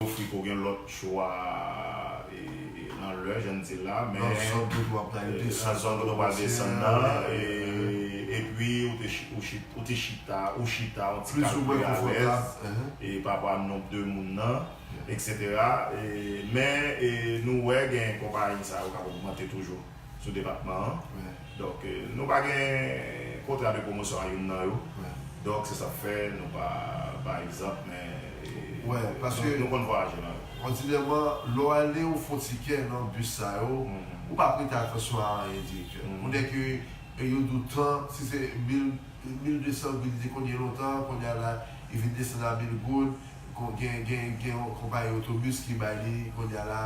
Ofri ke w gen lòt chwa nan lè jan n di la. Nan zòn kote w ap pral desann. Nan zòn kote w ap pral desann nan. Epi ou te chita, ou chita yon ti kal pi alèz. Pa rapò a nonb de moun nan. Eksetera. Men nou wè gen konpayi sa yo k ap ogmante toujou. sou depatman an. Donk nou pa gen kontra de pwomosyon a youn nan yo. Donk se sa k fè nou pa bay egzanp men nou konn vwayaje nan yo. Òdinèman, lè w ale ou fè yon tikè nan bis sa yo, ou pa prete atansyon a anyen direktè. Ou nèk ke yo di w tan, si se 1200 goud li te konn ye lontan, kounye a la li vin desann a 1000 goud, gen yon konpayi otobis ki bay li kounye a la.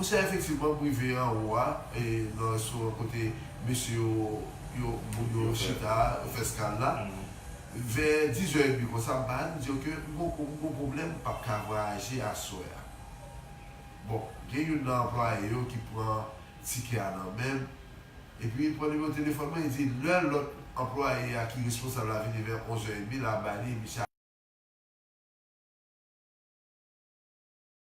Monchè efektivman m rive anwo a nan restoran kote mesye yo yo moun yo chita a yo fè skal la vè dizè edmi konsa m pale m di yo ke m poko m gon pwoblèm m pap ka vwayaje aswè a bon gen youn nan anplwaye yo ki pran tikè a nan men m epi li pran nimewo telefòn mwen li di lè lòt anplwaye a ki responsab la vini vè onzè edmi la bay li misye ap.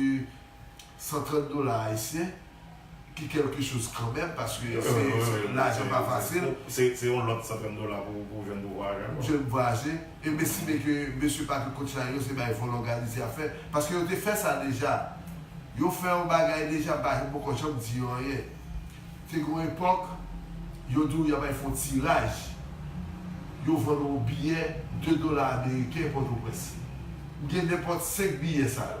Se 130 dola ayisyen ki kelke choz kanmenm paske lajan pa fasil. Se yon lòt 130 dola pou jwenn pou vwayaje ankò. Yo estime ke mesye Patrick Cochrane yo se bay vòlò Galicia ap fè, paske yo te fè sa deja. Yo fè yon bagay deja, m pa poko janm di yo anyen. Te gen yon epòk, yo di w y ap al fè yon tiraj, yo vann w yon biyè 2 dola ameriken Pòtoprens. M gen nenpòt 5 biyè sa yo.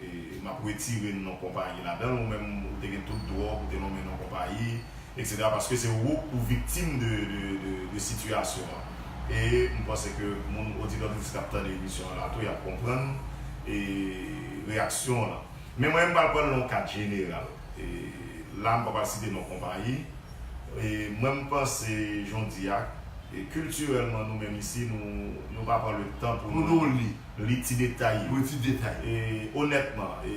M ap retire non konpayi ladan l. Ou menm ou te gen tout dwa w pou te lonmen non konpayi, eksetera, paske se ou k pou viktim de sitiyasyon an. E m panse ke moun oditè oditrice k ap tande emisyon an la tou y ap konprann reyaksyon w lan. Men mwen m pral pran l nan yon kad jeneral. La m pa pral site non konpayi. E mwen m panse jodiya, kiltirèlman nou menm isi nou pa pran le tan pou nou. Li ti detay yo. Li ti detay yo. E onètman, e.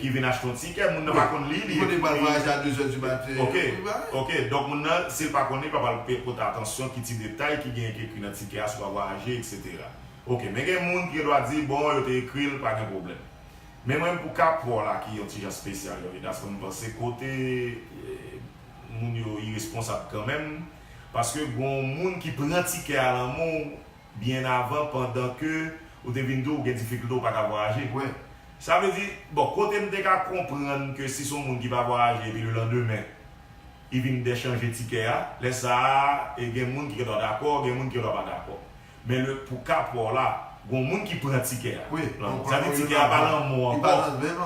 Ki vin achte yon tikè, moun nan pa konn li, li konnen pral vwayaje a 2 zè di maten. Ok, ok, donk moun nan si l pa konn li, l pa pral pote atansyon ki ti detay ki genyen ki ekri nan tikè a sou pa vwayaje eksetera. Ok, men gen moun ki gen dwa di bon yo te ekri l pa gen pwoblèm. Men mwen menm pou ka paw la ki yon ti jan spesyal yon jan paske m panse kote moun yo iresponsab kanmenm paske gon moun ki pran tikè a lan men w, byen avan pandan ke ou te vin di ou gen difikilte ou pa ka vwayaje. Sa vle di, bon, kote m te ka konprann ke si se yon moun ki pa vwayaje epi lelandemen li vin de chanje tikè a, lè sa a e gen moun ki gendwa dakò, gen moun ki gendwa pa dakò. Men le, pou ka pa w la, gen yon moun ki pran tikè a. Sa vle di tikè a pa nan men w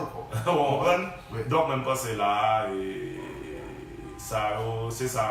ankò. Ou konprann? Donk mwen panse la a, e sa yo, se sa,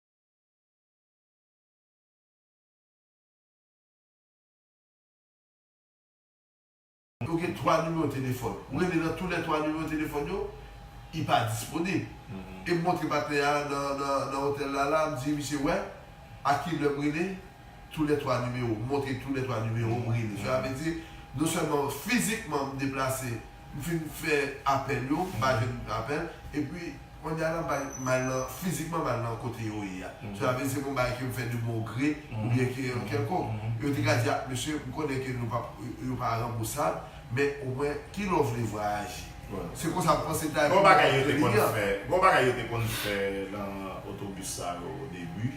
Yo gen 3 nimewo telefòn. Ou rele nan tou lè 3 nimewo telefòn yo, i pa disponib. E m montre patnè a nan otèl la la, m di misye wè a ki lè m rele, tou lè 3 nimewo. M montre tou lè 3 nimewo m rele. Sela vle di, non sèlman fizikman m deplase M fin fè apèl yo, m pa jwenn apèl. Epi, konnye a, la m mal nan, fizikman mal nan kote yo ye a. Sa vle di se pa yon bagay ke m fè de bon gre oubyen ke yon kèlkonk. Yo te ka di, ah, mesye, m konnen ke nou pa, yo pa ranbousab, men omwen, ki lè w vle vwayaje? Se konsa m panse te ka yon bagay entelijan. Gon bagay yo te konn fè nan otobis sa yo odebi.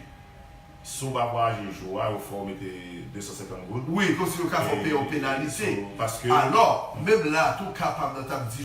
Si w pa pou aji jou a, yo fè w mete 250 goud. Wi, kòmsi yo ka fè w peye yon penalite. Alò, menm la a tou, ka pa m nan t ap di.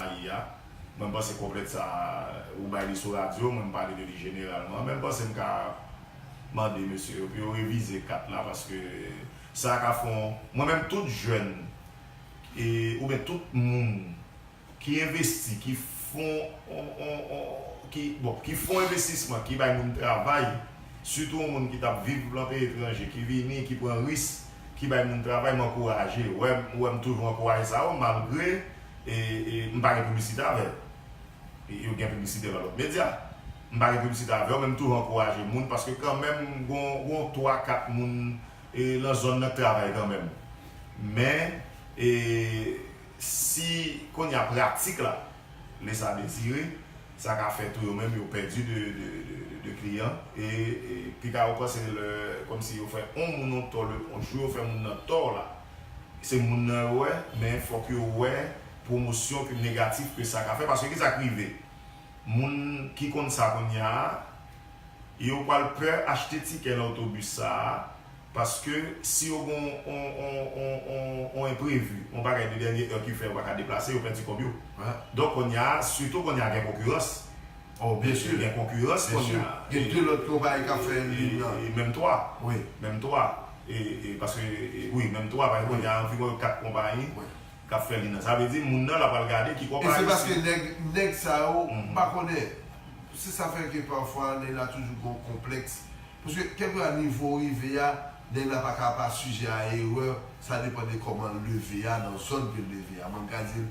Ayi a, mwen panse kòplèt sa ou bay li sou radyo, mwen m pale de li jeneralman, men m panse m ka mande mesye yo pou yo revize 4 la paske sa ka fon, mwen menm tout jèn oubyen tout moun ki envesti ki fon bon ki fon envestisman ki bay moun travay sitou yon moun ki t ap viv lan peyi etranje ki vini ki pran ris ki bay moun travay m ankouraje ou wè m toujou ankouraje sa yo malgre M pa gen piblisite avè l. Yo gen piblisite nan lòt medya. M pa gen piblisite avè l men m toujou ankouraje moun paske kanmenm m gon twa kat moun nan zòn nan k travay kanmenm. Men si kounye a pratik la lese a desire sa ka fè tou yo menm yo pèdi de kliyan e pita yo panse lè kòmsi yo fè on moun on tò on jou yo fè moun nan tò la. Se moun nan yo wè, men fòk yo wè pwomosyon ke negatif ke sa ka fè, paske kisa k rive? Moun ki konn sa kounya a, yo pwal pè achte tikè nan otobis sa a, paske si yo gen yon enprevi, yon bagay de dènye è ki fè yo pa ka deplase, yo pèdi kòb yo. Donk kounya a, sitou kounya gen konkirans, Oh byen sûr gen konkirans kounye a. Gen 2 lòt konpayi kap fè endivin nan. E menm 3. Wi. Menm 3. E paske wi menm 3 paske kounye a anviwon yo 4 konpayi kap fè li nan. Sa vle di moun nan la pral gade ki konpayi. E se paske nèg nèg sa yo pa konnen. Se sa fè ke pafwa nèg la toujou gon konplèks. Paske kèlkeswa nivo ou rive a, nèg la pa ka pa sijè a erè. Sa depan de kòman l leve a, nan zòn ke l leve a. Mwen m ka di l.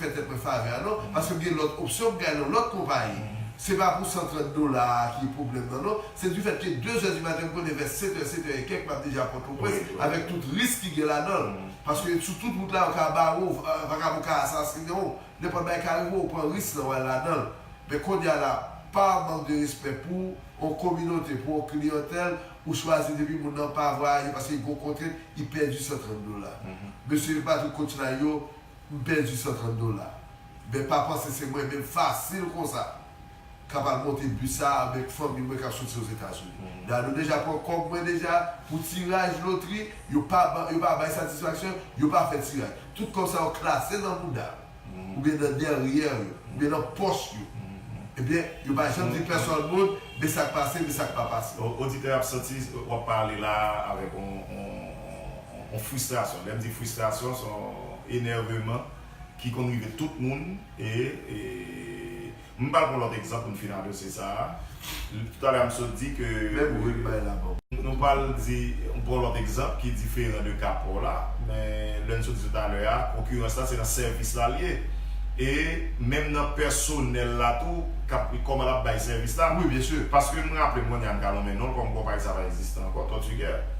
fè tèt mwen favè a non paske m gen lòt opsyon pou gade yon lòt konpayi se pa pou 130 dola a ki pwoblèm nan non se du fèt ke 2 zè du maten m konnen vè 7 è 7 è e kèk m ap deja pòtoprens avèk tout risk ki gen ladan l paske sou tout wout la yo ka bare w vakabon ka asasinen w nenpòt bagay ka rive w ou pran risk lan w al ladan l men konnya la pa mank de respè pou yon kominote pou yon kliyantèl ou chwazi depi moun nan pa vwayaje paske li gen yon kontrent li pèdi 130 dola mesye Patrick Cotulay yo M pèdi 130 dola. Ben pa panse se mwen menm fasil konsa kap al monte bus sa avèk fanmi mwen kap soti ozetazini. Dadou deja pran kòb mwen deja pou tiraj lotri yo pa ban yo pa bay satisfaksyon yo pa fè tiraj. Tout kòb sa yo klase nan mouda yo oubyen nan dèryè yo oubyen nan pòch yo ebyen yo pa janm di pèsòn moun men sak pase men sak pa pase. Oditè ap santi wap pale la avèk on. On fristrasyon, lè m di fristrasyon se on enèveman ki konn rive tout moun e m pral pran lòt egzanp pou n fin a dosye sa a. Toutale a m sot di ke. Lè pou ret bay la baw. Nou pral di, m pran lòt egzanp ki diferan de ka pa w la, men lè n sot di toutale a, konkirans la se nan sèvis la l ye e menm nan pèsonèl la tou k ap kòman l ap bay sèvis la. Wi byensi, paske m raple m kounye a m ka nonmen non l kòm konpayi sa a pa egziste ankò, Tòtigè.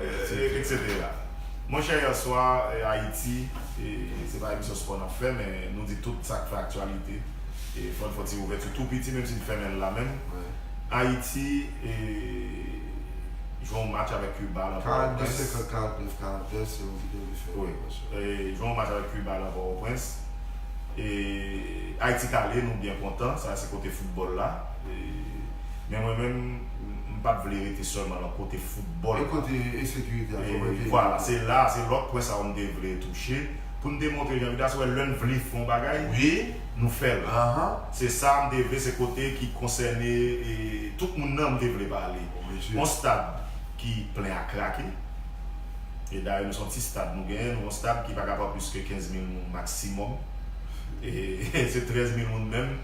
Etc. Monchè yè swa Ayiti se pa emisyon spò nap fè men nou di tout sak fè aktyalite e fòn fon ti ouvèti tou piti menm si n fèmen l la menm Ayiti jwe yon match avèk Kiba lan Pòtoprens 42 50 49 42 se yon video li fè wi jwe yon match avèk Kiba lan Pòtoprens e Ayiti t ale nou byen kontan sa se kote foutbòl la men mwen menm m pat vle rete sèlman lan kote Foutbòl. E kote ensekirite a sove peyi a? Vwala, se la, se lòt pwen sa yo m te vle touche, pou n te montre jan Vidas wè lè n vle fè yon bagay, nou fè l. Se sa m te vle, se kote ki konsène tout moun nan m te vle pale. Yon stad ki plen a krake, e dayè nou se yon ti stad nou genyen, nou yon stad ki pa ka pran plis ke 15 mil moun maksimòm, e se 13 mil moun menm.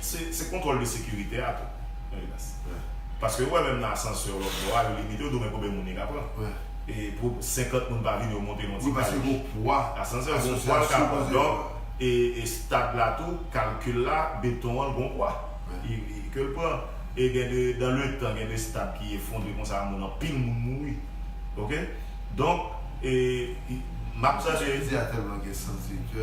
Se kontwòl de sekirite a tou. Paske yo wè menm nan asansè lòt bò a, yo limite, yo di w men konben moun li ka pran. E pou 50 moun pa vini yo monte nan ti kalich. Wi paske gon pwa. Asansè an gon pwa l ka pran. Donk, estad la tou, kalkil la, beton an gon pwa. Ke l pran. E gen de, dan le tan, gen de estad ki efondre konsa moun anpil moun mouri. Ok? Donk, e, m ap tande. Mwen sezi a tèlman gen sans direktè.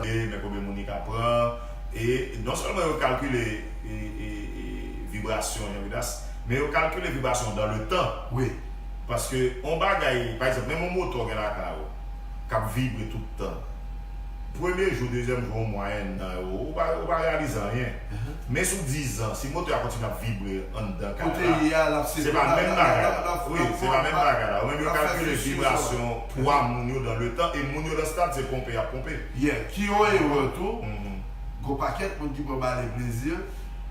Men konbyen moun li ka pran. E non sèlman yo kalkile vibrasyon yon vidas, men yo kalkile vibrasyon dan le tan. Wi. Paske yon bagay, pa egzanp, menm yon moto w gen lakay ou, k ap vibre tout tan, premye jou, dezyèm jou, yon mwa, ennan, ou pa reyalize anyen. Men sou dizan, si moto a kontinye ap vibre anndan kay la, se pa menm bagay la. Wi, se pa menm bagay la. Ou menm yo kalkile vibrasyon. 3 moun yo dan letan e moun yo dan stad se ponpe yap ponpe. Yeah ki yon erè tou gon pakèt moun ki pran bale plezi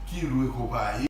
ki lwe konpayi.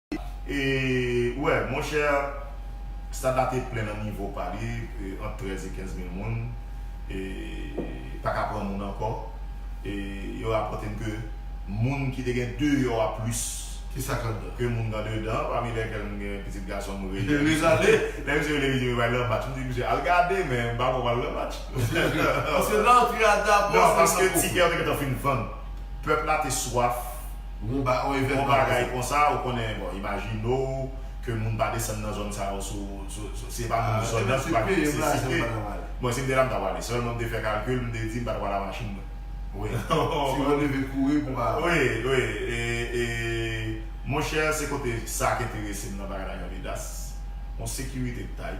E wè, monchè, stad la te plen nan nivo pa li, ant 13 e 15 mil moun, e pa ka pran moun ankò. E yo rapòte n ke moun ki te gen deyò a plis. Ki sa k anndan? Ke moun k andedan, pami lèkèl m gen pitit gason m Reyèl Dezale. Lè misye rele m, li di m yo pral nan match. M di misye, al gade, men m pa kwè w pral nan match. Paske rantre a dabò. Non, paske tikè yo te gentan fin vann. Pèp la te swaf. Bon bagay konsa ou konnen bon imajine w ke moun pa desann nan zòn sa yo sou se pa moun zòn nan se pa gen nesesite mwen si m te la m ta pwale sèlman m te fè kalkil m te di m pa ta pwale a machin mwen wi ti moun leve kouri pou pa wi wi e monchè se kote sa k enterese m nan bagay la yon menas yon sekirite k ta y.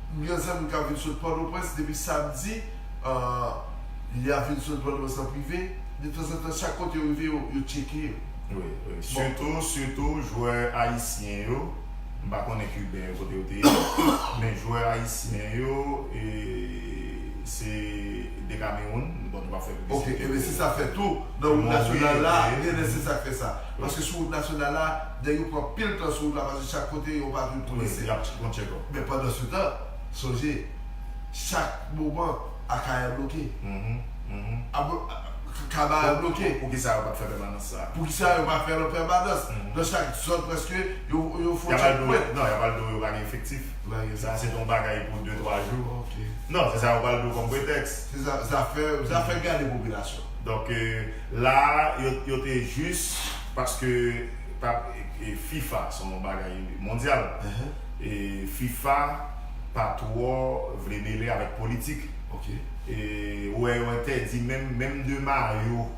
M gen zanmi kap vin sot pòtoprens depi samdi ahh ya vin sot pòtoprens an prive de tanzantan chak kote yo rive yo tcheke yo. Wi wi sitou sitou jwè ayisyen yo m pa konnen kiben yo kote yo te ye men jwè ayisyen yo se de kamewoun bon nou pap fè piblisite pou ok se sa fè tou nan wout nasyonal la genlè se sak fè sa paske sou wout nasyonal la nèg yo pran pil tan sou wout la paske chak kote yon patwouy polisye. Men pandansetan, sonje, chak moman Akayè bloke. Kabarè bloke. Poukisa yo pa t fè pèmanans sa a? Poukisa yo pa fè l an pèmanans? Nan chak zòn prèske, yo fon tchekpwen. Non, y ap al di w yo pa gen efektif. Sa a se t on bagay pou de twa jou. Non, se sa yo pral di w kòm pretèks. Se zafè, zafè gade popilasyon. Donk, la a, yo te jis paske fifa se on bagay mondyal. fifa pa twò vle mele avèk politik ou wè yo entèdi menm menm de mayo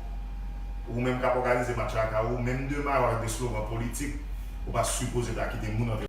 ou menm kap òganize match la lakay ou menm de mayo avèk de slogan politik ou pa sipoze ta kite moun antre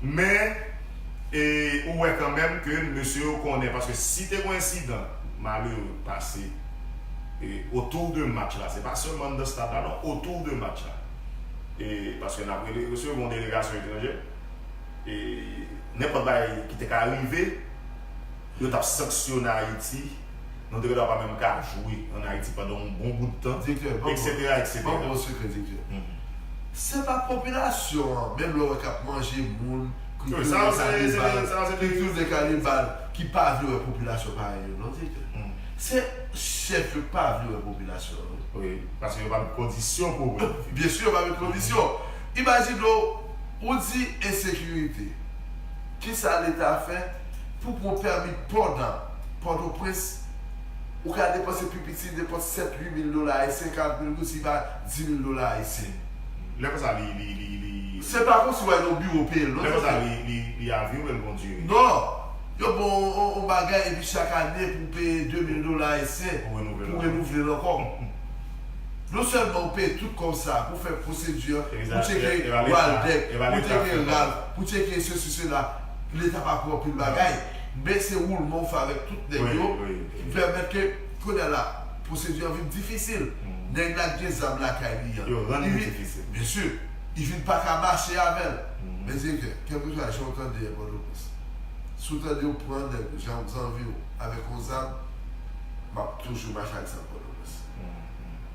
Men e ou wè kanmenm ke mesye yo konnen paske si te gon ensidan malere k pase e otou de match la se pa sèlman anndan stad la non otou de match la e paske nap rele mesye yo gon delegasyon etranjè e nenpòt bagay ki te ka rive. Yo tap sanksyone Ayiti, nou te gentan pa menm ka jwe an Ayiti pandan yon bon bout tan, eksetera, eksetera. Direktè, banm yon sekrè direktè. Se pa popilasyon an, menm lè w wè k ap manje moun, kite yo nan kanibal, kite yo nan kanibal, ki pa vle wè popilasyon parèy yo non direktè. Se chèf yo ki pa vle wè popilasyon an wi. Wi, paske yo pa met kondisyon pou wè l. Byen si yo pa met kondisyon. Imajine w, ou di ensekirite, kisa leta fè? Pou pran pèmi pò nan Pòtoprens, ou ka depanse pi piti depans sèt-ui mil dola ayisyen, karant mil goud si ba di mil dola ayisyen. Lè konsa li, li, li, li. Se pa konsi w'al nan biwo peye l non, Lè konsa li, li, li avyowe l bondye. Non! Yo ban w on, on bagay epi chak ane pou w peye de mil dola ayisyen Pou renouvle l pou w ankò. renouvle l ankò. Non sèlman ou peye tout kòb sa a pou w fè pwosedi an, Epi pou w sa, e, cheke e, e ba leta, Waldeck, e ba pou w leta cheke fè kòb la. Ralph, pou w cheke sesi sela, leta pa pran pil bagay men se woulman ou fè avèk tout nèg yo ki pèmèt ke kounye a la pwosedi an vin difisil nèg la k gen zam lakay li an yo rann li difisil byen si li vin pa ka mache avè l men direktè kèlkeswa jan ou tande an pòtoprens si w tande yo pran nèg ou jan w zanvi w avèk yon zam m ap toujou mache ak zam pòtoprens.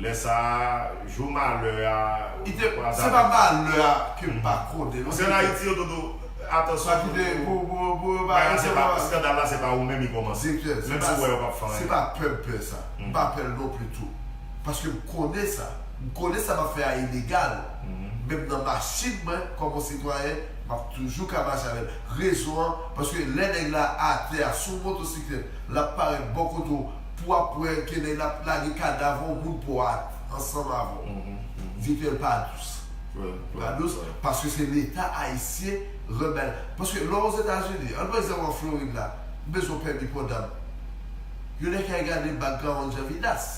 Lè sa a, jou malè a, ou te pran Se pa zaboka. malè a ke m pa konnen non Sèl Ayiti yo Dodo, atansyon pou yo pou yo pa Bagay la, eskandal la se pa ou menm li kòmanse. Direktè, Menm si ou wè yo pap fè anyen. se pa pè m pè sa. M pa pè l non pli tou. Paske m konnen sa. M konnen sa m ap fè a ilegal. Menm nan machin mwen, kòm yon sitwayen, m ap toujou ka mache avè l. Rezon an, paske lè nèg la atè a sou motosiklèt, l ap parèt bò kote w, pou wap wè ke nèg la ap lage kadav on goud pò a ansanm avè w. Di ke l pa dous. Li pa dous paske se leta ayisyen rann bagay la. Paske lè w ozetazini, an nou pran egzanp an Florid la, ou bezwen yon pèmi pò dam. Yo nèk ki al gade background Jean Vidas.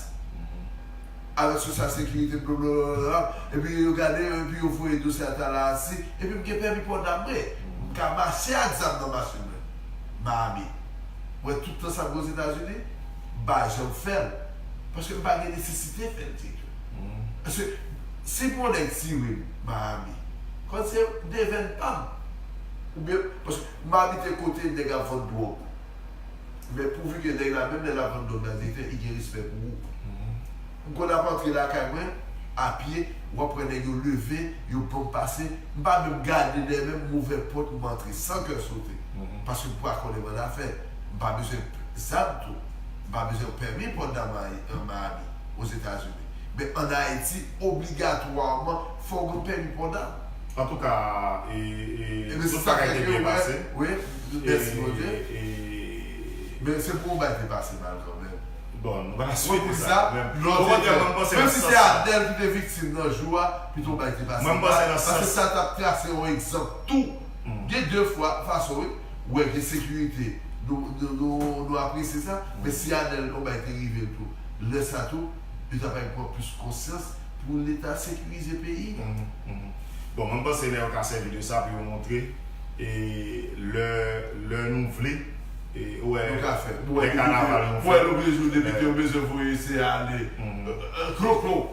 Avèk sosyal sekirite blablabla. Epi yo gade yo epi yo voye dosye a Tallahassee. Epi m gen pèmi pò dam mwen. M ka mache ak zam nan machin mwen. Miami mwen tout tan sa mwen ozetazini mpa janm fèl paske mpa gen nesesite fèl teyto paske si pou yon nèg siwim Miami konn se devenn pam oubyen paske mpa abite kote nèg ap vann dwòg men pouvi ke nèg la menm lè lap vann dwòg nan direktè i gen respè pou ou. M konn ap antre lakay mwen a pye w ap wè nèg yo leve yo banm pase m pa menm gade dèyè menm m ouvè pòt m antre san kè sote paske m pa konnen manda fè m pa bezwen zam tou m pa bezwen pèmi pòt da Miami Ozetazini men an Ayiti obligatwaman fò w gen pèmi pòt da. Antouka e e tout bagay te byen pase e e e. Men se pou yon bagay te pase mal kanmenm. Mwen di sa, lò se Adèl. Menm si se Adèl ki te viktim nan jou a, pito bay ti pase mal, paske sa t ap trase yon egzanp tou. Gen de fwa, fason wi, ou wè gen sekirite, nou apresye sa, men si Adèl yon bagay te rive l tou, lè sa tou, yo ta bay pran plis konsyans pou Leta sekirize peyi. Bon, mwen panse lè yo ka sèvi de sa pou yo montre, lè nou vle. Nou ka fè l. Lè kanaval nou fè l. Pou depite yo bezwen voye se ale. Kloklo.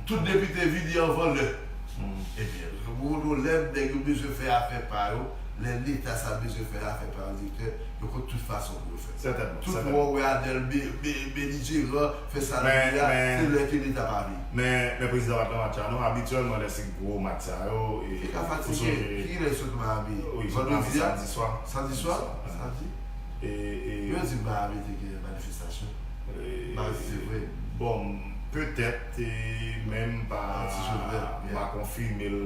Tout depite vini anvan lè. Ebyen, gen yon lè nèg yo bezwen fè afè pa yo, lè leta sa bezwen fè afè pa yo direktè, yo konn tout fason pou yo fè. Sètènman. Tout wè w wè Anèl belijeran fè sa l vle a, se lè ke leta pa vle. Men, lè prezidan pa t nan match la non. Abityèlman lè se gwo match sa yo e. Li ka fatige. Kilè l sot Miami? Li sot Miami samdi swa. Samdi swa? sa di yo di miami te gen manifestasyon baz se vre bon petèt men m pa konfime l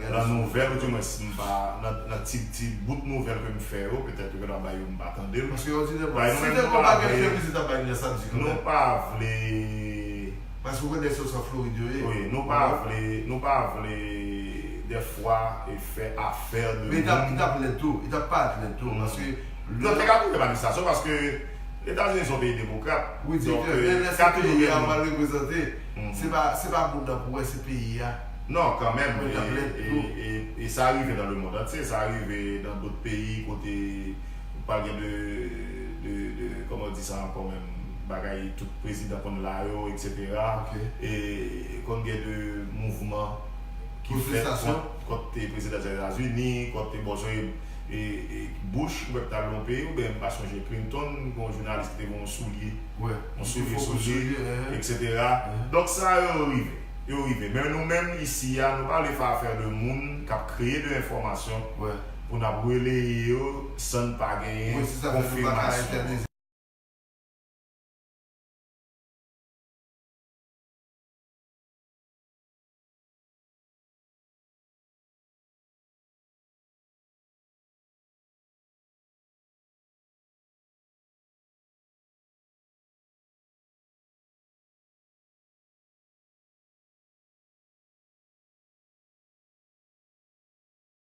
nan nouvèl ou di mwen si m pa nan ti bout nouvèl ke m fè yo petèt yo gentan bay yo m pa tande l paske yo di nou menm nou pa vle. Paske ou konn nèg sa yo san Florid yo ye. Wi nou pa vle nou pa vle dèfwa fè afè de moun. Men li tap lèd tou, li tap parèt lèd tou paske. Non li ka tou fè manifestasyon paske Etazini son peyi demokrat. Wi direktè, men lè se peyi a ou al reprezante, se pa se pa moun nan pou wè se peyi a. Non kanmenm e sa rive nan le mond antye, sa rive nan dot peyi kote. Ou pa gen de de de kòman ou di sa ankò menm bagay tout prezidan konn la yo etc. E konn gen de mouvman ki fèt kont prezidan Etazini, kont bon se e e Bush ou pèp ta lwen peye ou byen m pa sonje Clinton gen yon jounalis ki te gen yon soulye yon soulye sou li etc. Donk sa yo rive yo rive men nou menm isi a nou pa ale fè afè de moun k ap kreye de enfòmasyon. pou n ap releye yo san n pa genyen konfimasyon.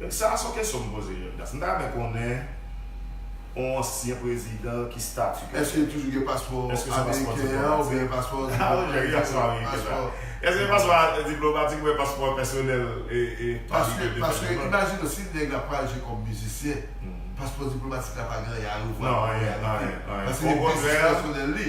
Donk sa a son kesyon m poze Leonidas. M ta renmen konnen on ansyen prezidan ki stati ke l gen. Eske li toujou gen paspò ameriken an oubyen gen paspò diplomatik? Eske gen paspò diplomatik oubyen paspò pèsonèl e pa li ke li te fè demann? Paske imajine w si nèg la pral jwe kòm mizisyen, paspò diplomatik la pa gen anyen a revwa an reyalite. Paske se biznis pèsonèl li.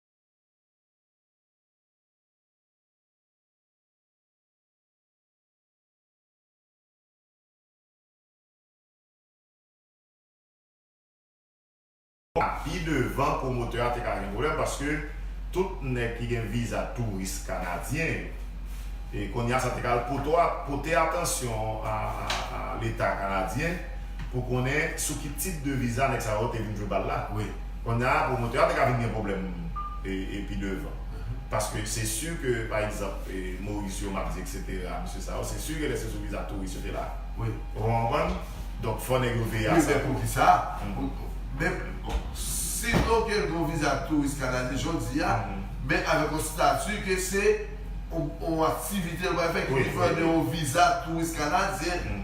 Pi devan pwomotè a te ka gen pwoblèm paske tout nèg ki gen viza touris kanadyen yo. E kounye a sa te ka al pote atansyon a leta kanadyen pou konnen sou ki tip de viza nèg sa yo te vin jwe bal la. Konnya pwomotè a te ka vin gen pwoblèm pi devan. Paske se si ke pa egzanp Mauricio Mapdi eksetera mesye sa yo se si ke lè se sou viza touris yo te la. Ou konprann? Donk fò nèg yo veye a sa tou. Wi men poukisa? Men si ok l gen yon viza touris kanadyen jodi a men avèk yon stati ke se yon aktivite l pral fè ki diferan de yon viza touris kanadyen.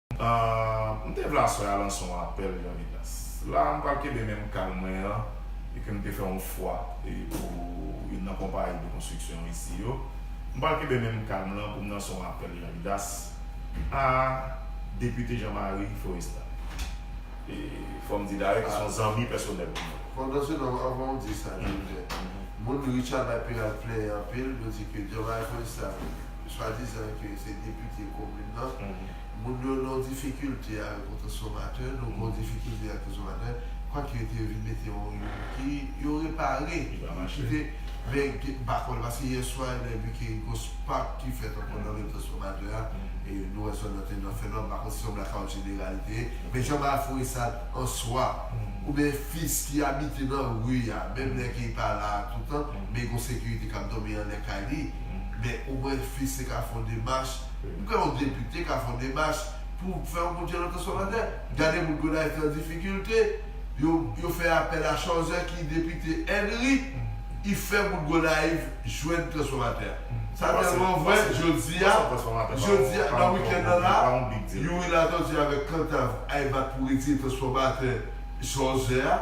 M te vle aswè a lanse yon apèl yon evidans. La, m pral kenbe menm kalm mwen an e ke m te fè yon fwa pou youn nan konpayi de konstriksyon isi yo. M pral kenbe menm kalm lan pou m lanse yon apèl yon evidans a Depite Jean Marie Florestan. E fò m di dayè ki se yon zanmi pèsonèl pou mwen. Fondasyonèlman, anvan ou di sa, Joseph, moun Richard bay Peralt plè anpil, yo di ke Jean Marie Florestan swadizan ke se depite komin nan, moun yo nan difikilte avèk yon transfòmatè, nou gen yon difikilte ak transfòmatè, kwak yo te vin mete yon ki yo repare, men pa konn, paske yèswa lè vin ke gen yon spak ki fèt ankò nan menm transfòmatè a, nou wè zòn nan te nan fè nwa, m pa konn si se yon blackout jeneral li te ye, men jan bafou e sal an swa, oubyen fis ki abite nan ri a, menm lè ke li pa la toutan, men gen yon sekirite k ap dòmi anlè kay li. Men ou mwen fi se ka fon demach m kwè yon depite ka fon demach pou fè yon boudjè lòt oswa lòt lè gade moun Gonayiv ki an difikilte yo yo fè apèl a Chòzè ki depite Ènri i fè moun Gonayiv jwenn transfòmatè sa tèlman vrè jodia jodia nan wikèn nan la Youri Latortue avèk Kantav ay bat pou retire transfòmatè Chòzè a.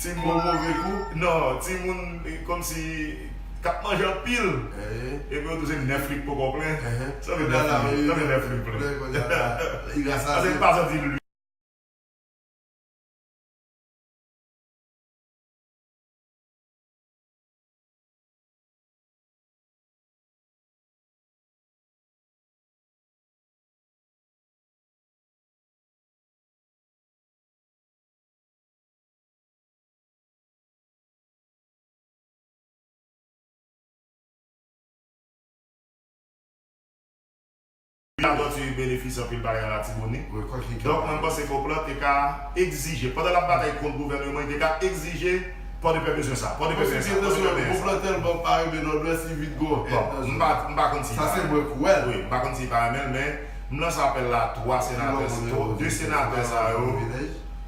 Timoun move gou, non, timoun kòmsi k ap manje anpil epi yo tou se 9 lit k poko plen, sa vle di nan la ri, tanmen 9 lit plen. Pase pa santi l ui. Ladanti yo benefisye anpil bagay an Latibonit. Donk mwen panse ke Oplan te ka egzije, pandan l ap batay kont gouvèneman, li te ka egzije Pòdepè bezwen sa, Pòdepè benyen sa, Pòdepè benyen sa. Oplan tèlman pa renmen Nòdwès, li vin gon èn nan zòn nan. M pa konn si li pa renmen l. Wi, m pa konn si li pa renmen l, men m lanse apèl la a 3 senatè sa yo. 2 senatè sa yo.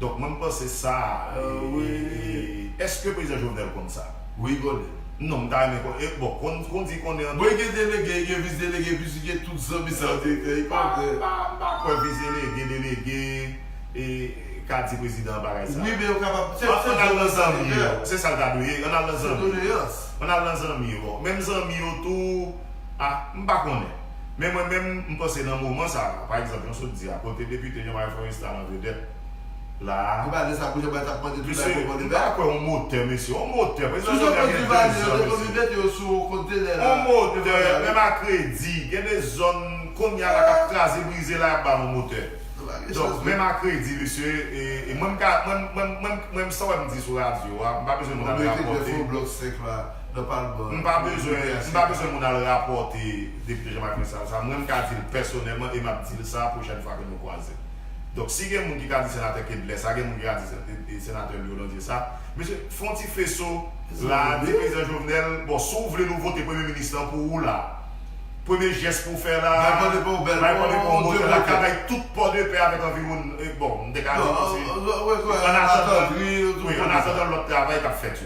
Donk mwen m panse sa Eske prezidan Jovenel konn sa? Wi li konnen. Non m ta renmen konnen e bon kon di konnen an. Bon li gen delege li gen vis delege epi li gen tout zanmi sa yo direktè li konnen. M pa kwè vis delege delege ka di prezidan an bagay sa. Wi men yo kapab se se an al nan zanmi yo. Se sa l ta dwe ye an al nan zanmi yo. Se doleyans. An al nan zanmi yo bon menm zanmi yo tou ah m pa konnen. Men mwen menm, m panse nan moman sa a, pa egzanp, jan w sot di a, kote depite Jean Marie Florestal an vedèt la a, Li pa di sa pou Jean Marie t ap mande tout bagay pou Repo Libète. Mesye, m pa kwè on motè, mesye, on motè, prezidan Sou Jovenel gen 2 zòn, mesye. Sou Jovenel, Repo Libète yo sou on kontenè la. On motè, menm a kredi, gen 2 zòn, kounye a la, k ap kraze brize la, y ap ba l on motè. Donk, menm a kredi, mesye, e mwen m ka, mwen m, mwen m, mwen m, san wè m di sou radyo a, m pa bezwen moun ap rapòte. Bon, m rete dèfo blòk 5 la. nan palman an. M pa bezwen m pa bezwen moun al rapòte Depite Jean Marc Vincent sa. Mwen m ka di l pèsonèlman e m ap di l sa pwochèn fwa ke nou kwaze. Donk si gen moun ki ka di Senatè Kedlè sa, gen moun ki ka di Senatè Louis Hollande sa, mesye fè yon ti feso la a di Prezidan Jovenel, bon si w vle nou vote Premye Minis lan pou ou la a, premye jès pou w fè la a, Bay Pòdepè yon bèl bon 2 botèl la ka bay tout Pòdepè avèk anviwonn bon m te ka di tou se, an atandan, wi, an atandan lòt travay k ap fèt yo.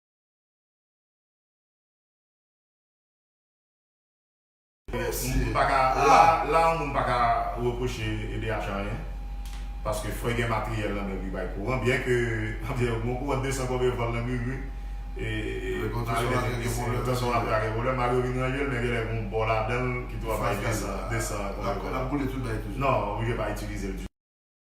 Moun pa ka la la moun pa ka repwoche edh anyen paske fò gen matryèl nan men li bay kouran byen ke anpil moun kouran 200 kòve vòl nan gri gri e malgre gen pwoblèm de tanzantan ap ka gen pwoblèm malgre yo vin ranje l men genlè gen yon bò ladan l ki tou ap bay 200 kòve vòl nan non oblije pa itilize l ditou.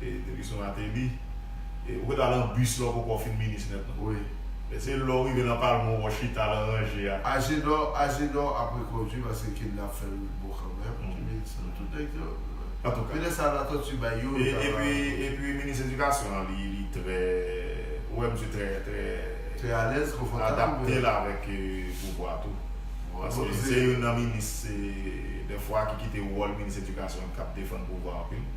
Depi sou Martelly. Ou poko al an bus la ou poko fin minis nèt non. Se lè ou rive nan palman ou wè w chita lan ranje a. Agedò Agedò ap rekondwi paske kidnap fè l bon kanmenm Kimilson tout nèg yo Antouka Yo lè sa Latortue bay yo yo ta va Epi minis edikasyon an li trè ou wè misye trè trè Trè alèz konfòtab adapte l avèk pouvwa tou paske se youn nan minis dèfwa ki kite wòl minis edikasyon k ap defann pouvwa anpil.